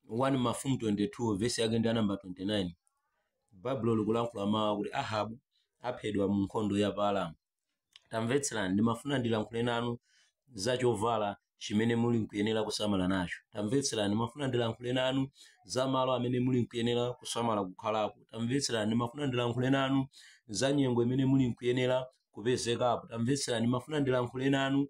1 mafumu 22 vesi yake ndi ya namba 29 baibulo likulankhula mawu akuti ahabu aphedwa mu nkhondo ya pa aramu tamvetserani ndimafuna ndilankhule nanu za chovala chimene muli nkuyenera kusamala nacho tamvetserani ndimafuna ndilankhule nanu za malo amene muli nkuyenera kusamala kukhalapo tamvetserani ndimafuna ndilankhule nanu za nyengo imene muli nkuyenera kupezekapo tamvetserani ndimafuna ndilankhule nanu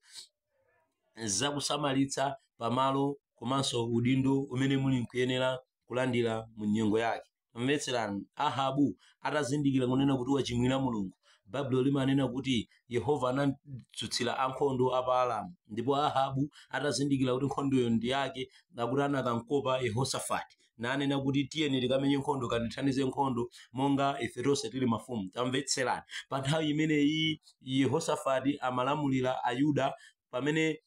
zakusamalitsa pamalo komanso udindo umene muli nkuyenera kulandira mu nyengo yake tamvetserani ahabu atazindikira kunena kuti wachimwira mulungu baibulo limanena kuti yehova anamdzutsira ankhondo a pa aramu ndipo ahabu atazindikira kuti nkhondoyo ndi yake akuti anakamkopa yehosafati nanena kuti tiyeni tikamenye nkhondo kandithandize nkhondo monga ife tonse tili mafumu tamvetserani pa nthawi imeneyi yehosafati amalamulira ayuda pamene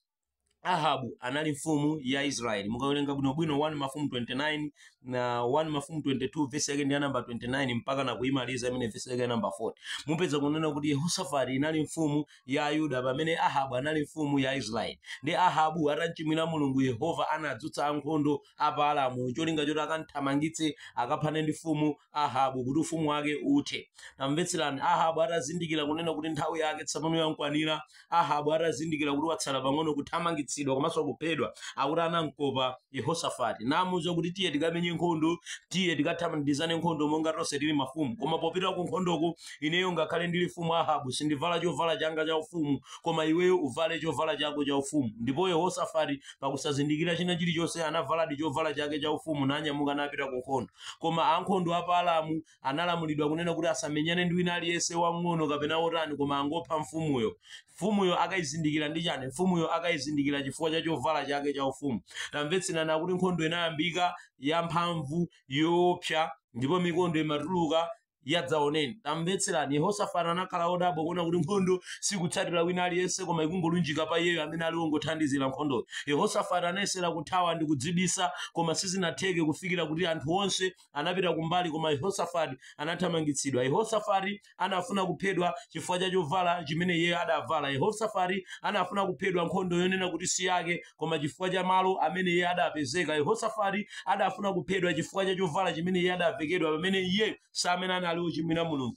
ahabu anali mfumu ya israeli mukawerenga bwinobwino 1 mafumu 29 na 1 mafumu 22 vesi yake ndi ya namba 29 mpaka na kuimaliza imene vesi yake ya namba 40 mupeza kunena kuti yehosafati inali mfumu ya ayuda pamene ahabu anali mfumu ya israeli ndi ahabu atamchimwira mulungu yehova anadzutsa ankhondo a pa Aramu cholinga choti akamthamangitse akaphane ndi mfumu Ahabu kuti ufumu wake uthe. Tamvetserani, Ahabu atazindikira kunena kuti nthawi yake tsopano yamkwanira, Ahabu atazindikira kuti watsala pang'ono kuthamangitsidwa komanso kuphedwa, akuti anamkopa Yehosafati namuuza kuti tiye tikamenye nkhondo, tiye tikathandizane nkhondo monga tonse tili mafumu. Koma popita ku nkhondoko, ineyo ngakhale ndili mfumu Ahabu sindivala chovala changa cha ufumu, koma iweyo uvale chovala chako cha ufumu. Ndipo Yehosafati Pakusazindikira china chilichonse, anavaladi chovala chake chaufumu nanyamuka napita kunkhondo. Koma ankhondo a pa Aramu analamulidwa kunena kuti asamenyane ndi wina aliyense, wamng'ono kapena wotani, koma angopha mfumuyo. Mfumuyo akaizindikira ndi chani? Mfumuyo akaizindikira chifukwa cha chovala chake chaufumu. Tamvetserani, akuti nkhondo inayambika, yamphamvu, yoopsa, ndipo mikondo imatuluka, yadzaoneni tamvetserani yehosafati anakhala odabwa kuona kuti nkhondo sikutsatira wina aliyense koma ikungolunjika pa iyeyo amene ali wongothandizira nkhondoyo yehosafati anayesera kuthawa ndi kudzibisa koma sizinatheke kufikira kuti anthu onse anapita kumbali koma yehosafati anathamangitsidwa yehosafati anafuna kuphedwa chifukwa cha chovala chimene iye adavala yehosafati anafuna kuphedwa nkhondo yonena kuti si yake koma chifukwa cha malo amene iye adapezeka yehosafati adafuna kuphedwa chifukwa cha chovala chimene iye adavekedwa pamene iyeyo si amene anali ochimwira mulungu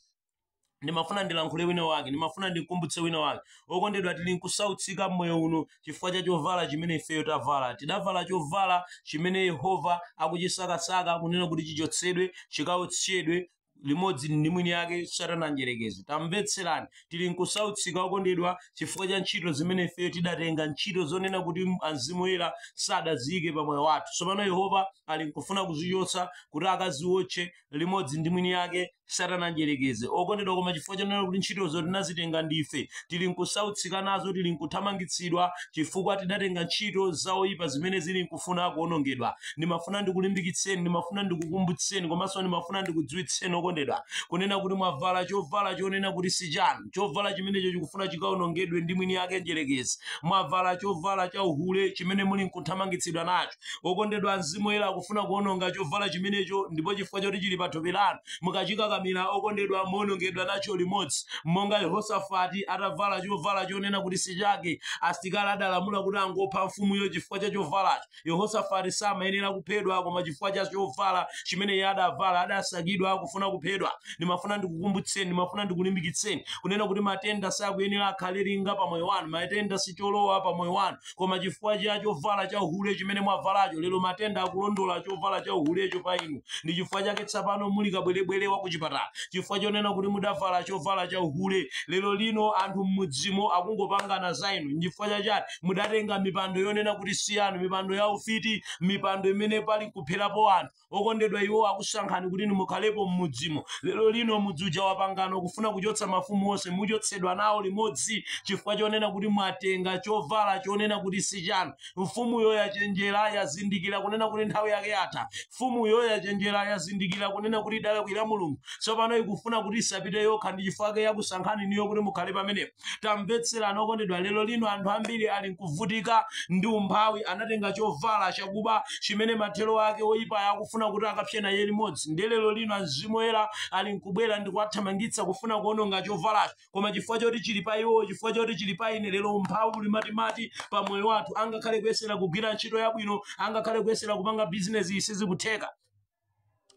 ndimafuna ndilankhule wina wake ndimafuna ndimkumbutse wina wake okondedwa tili nkusautsika mmoyo uno chifukwa cha chovala chimene ifeyo tavala tidavala chovala chimene yehova akuchisakasaka kunena kuti chichotsedwe chikaotchedwe limodzi ndi mwini yake satana mdyerekezi tamvetserani tili nkusautsika okondedwa chifukwa cha ntchito zimene ifeyo tidatenga ntchito zonena kuti mzimu woyera sadaziyike pa moyo wathu tsopano yehova ali nkufuna kuzichotsa kuti akaziwotche limodzi ndi mwini yake satana mdyerekezi okondedwa koma chifukwa chonena kuti ntchitozo tinazitenga ndife tili nkusautsika nazo tili nkuthamangitsidwa chifukwa tidatenga ntchito za oyipa zimene zili nkufuna kuonongedwa ndimafuna ndikulimbikitseni ndimafuna ndikukumbutseni komanso ndimafuna ndikudziwitseni okondedwa kunena kuti mwavala chovala chonena kuti si chanu chovala chimenecho chikufuna chikaonongedwe ndi mwini yake mdyerekezi mwavala chovala cha uhule chimene muli nkuthamangitsidwa nacho okondedwa mzimu woyera akufuna kuononga chovala chimenecho ndipo chifukwa choti chili pa thupi lanu mukachikakamira okondedwa muonongedwa nacho limodzi monga yehosafati atavala chovala chonena kuti si chake asilikali adalamula kuti angopha mfumuyo chifukwa cha chovalacho yehosafati samayenera kuphedwa koma chifukwa cha chovala chimene iye adavala adasakidwa kufuna kuphedwa ndimafuna ndikukumbutseni ndimafuna ndikulimbikitseni kunena kuti matenda sakuyenera akhale linga pa moyo wanu matenda si cholowa pa moyo wanu koma chifukwa cha chovala cha uhule chimene mwavalacho lero matenda akulondola chovala cha uhulecho pa inu ndi chifukwa chake tsopano muli kabwerebwere wa kuchipatala chifukwa chonena kuti mudavala chovala cha uhule lero lino anthu mmudzimo akungopangana za inu nchifukwa chachani mudatenga mipando yonena kuti si yanu mipando ya ufiti mipando imene pali nkupherapo anthu okondedwa iwo akusankhani kuti mukhalepo m'mudzimo lero lino mudzi uja wapangana kufuna kuchotsa mafumu onse muchotsedwa nawo limodzi chifukwa chonena kuti mwatenga chovala chonena kuti si chanu mfumuyo yachenjera yazindikira kunena kuti nthawi yake yatha mfumuyo yachenjera yazindikira kunena kuti idalakwira mulungu tsopano ikufuna kuti isapite yokha ndi chifukwa chake yakusankhani inuyo kuti mukhale pamenepo tamvetserani okondedwa lero lino anthu ambiri ali nkuvutika ndi umphawi anatenga chovala chakuba chimene mathero ake oyipayo akufuna kuti akapse naye limodzi ndiye lero lino amzimu oyera ali nkubwera ndi kuwathamangitsa kufuna kuononga chovalacho koma chifukwa choti chili pa iwowo chifukwa choti chili pa ine lero umphawi uli matimati pa moyo wathu angakhale kuyesera kugwira ntchito yabwino angakhale kuyesera kupanga bizinesi sizikutheka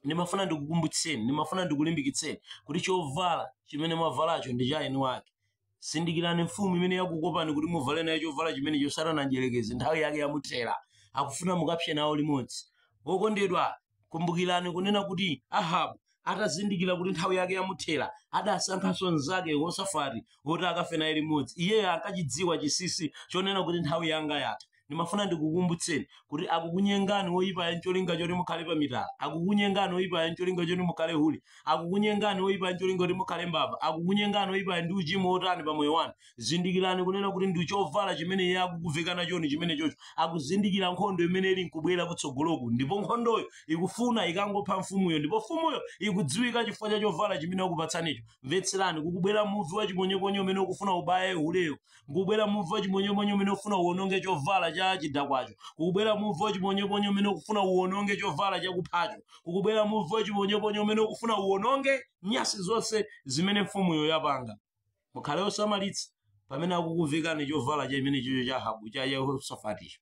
ndimafuna ndikukumbutseni ndimafuna ndikulimbikitseni kuti chovala chimene mwavalacho ndi cha eni ake zindikirani mfumu imene yakukopani kuti muvale nayo chovala chimenecho satana mdyerekezi nthawi yake yamuthera akufuna mukapse nawo limodzi okondedwa kumbukirani kunena kuti ahabu atazindikira kuti nthawi yake yamuthera adasankhanso mnzake yehosafati woti akafe naye limodzi iyeyo ankachidziwa chinsinsi chonena kuti nthawi yanga yatha ndimafuna ndikukumbutseni kuti akukunyengani woyipayo ncholinga choti mukhale pa mitala akukunyengani woyipayo ncholinga choti mukhale hule akukunyengani woyipayo ncholinga choti mukhale mbava akukunyengani woyipayo ndi uchimo wotani pa moyo wanu zindikirani kunena kuti ndi chovala chimene iye akukuveka nachoni chimenechocho akuzindikira nkhondo imene ili nkubwera kutsogoloku ndipo nkhondoyo ikufuna ikangopha mfumuyo ndipo mfumuyo ikudziwika chifukwa cha chovala chimene akupatsanicho mvetserani kukubwera muvi wa chiponyeponye umene ukufuna ubaye huleyo kukubwera muvi wachiponyeponye umene ukufuna uwononge chovala cha chidakwacho kukubwera muvi wachiponyeponye umene ukufuna uwononge chovala chakuphacho kukubwera muvi wachiponyeponye umene ukufuna uwononge nyasi zonse zimene mfumuyo yapanga mukhale osamalitsa pamene akukuvekani chovala chimenechocho cha ahabu cha yehosafaticho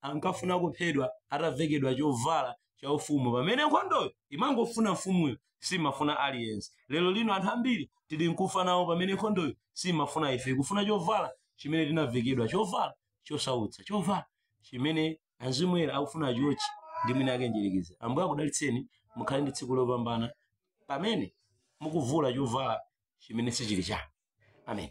ankafuna kuphedwa atavekedwa chovala cha ufumu pamene nkhondoyo imangofuna mfumuyo simafuna aliyense lero lino anthu ambiri tili nkufa nawo pamene nkhondoyo simafuna ife ikufuna chovala chimene tinavekedwa chovala chosautsa chovala chimene mzimu woyera akufuna achiotche ndi mwini wake mdyerekezi ambuye akudalitseni mukhale ndi tsiku lopambana pamene mukuvula chovala chimene sichili chanu amen